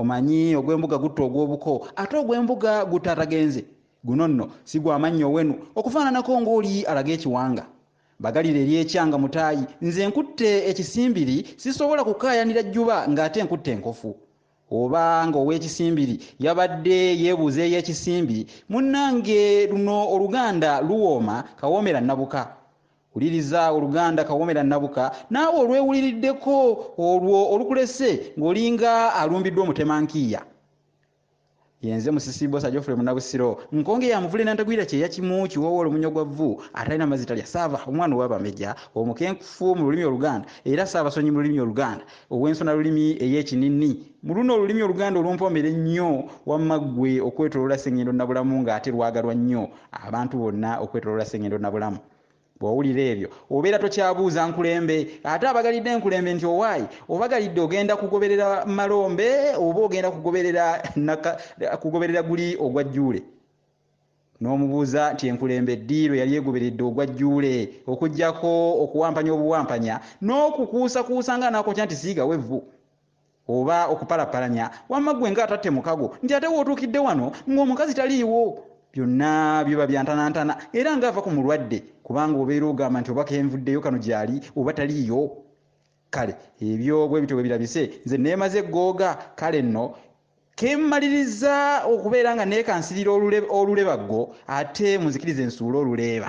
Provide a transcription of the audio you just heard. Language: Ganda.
Omanyi ogw'embuga gutta ogw'obuko, ate ogw'embuga gutta atagenze. Guno nno si gwa mannyo wenu, okufaananako ng'oli alaga ekiwanga. Bagalire eri ekyanga mutaayi, nze nkutte ekisimbiri, sisobola kukaayanira jjuba ng'ate nkutte enkofu. Oba ng'ow'ekisimbiri yabadde yeebuuza ey'ekisimbi, munnange luno oluganda luwooma kawoomera nnabuka. Wuliriza oluganda Kawomera Nabuka naawe olwewuliriddeko olwo olukulese ng'olinga alumbiddwa omutema nkiiya. Yenze Musisi Bbosa Geoffrey Munabusiro, nkonge ya muvule nantagwira kyeya kimu kiwoowoolo munywa gwa vvu, atalina mazzi talya, Ssaava, omwana ow'abameja, omukenkufu mu lulimi Oluganda era Ssaabasonyi mu lulimi Oluganda, ow'ensonalulimi ey'ekininni. Mu luno olulimi Oluganda olumpoomera ennyo, wamma ggwe okwetoloola Ssengendo Nabulamu nga ate lwagalwa nnyo abantu bonna okwetoloola Ssengendo Nabulamu. Bw'owulira ebyo, obeera tokyabuuza nkulembe ate abagalidde nkulembe nti owaaye obagalidde ogenda kugoberera Malombe oba ogenda kugoberera naka, kugoberera guli ogwa Jjuule. N'omubuuza nti enkulembe ddi lwe yali egoberedde ogwa Jjuule okuggyako okuwampanya obuwampanya n'okukuusakuusa ng'anaakokya nti siigawo evvu. Oba okupalapalanya wamma ggwe nga atatte mukago nti ate w'otuukidde wano ng'omukazi taliiwo. Byonna biba bya ntanantana era nga ava ku mulwadde kubanga obeera ogamba nti oba kenvuddeyo kano gyali oba taliiyo. Kale ebyo bwe bityo bwe birabise nze neemaze eggooga kale nno kemmalirizza okubeera nga neekansirira olulebaggo ate munzikirize nsuule oluleeba.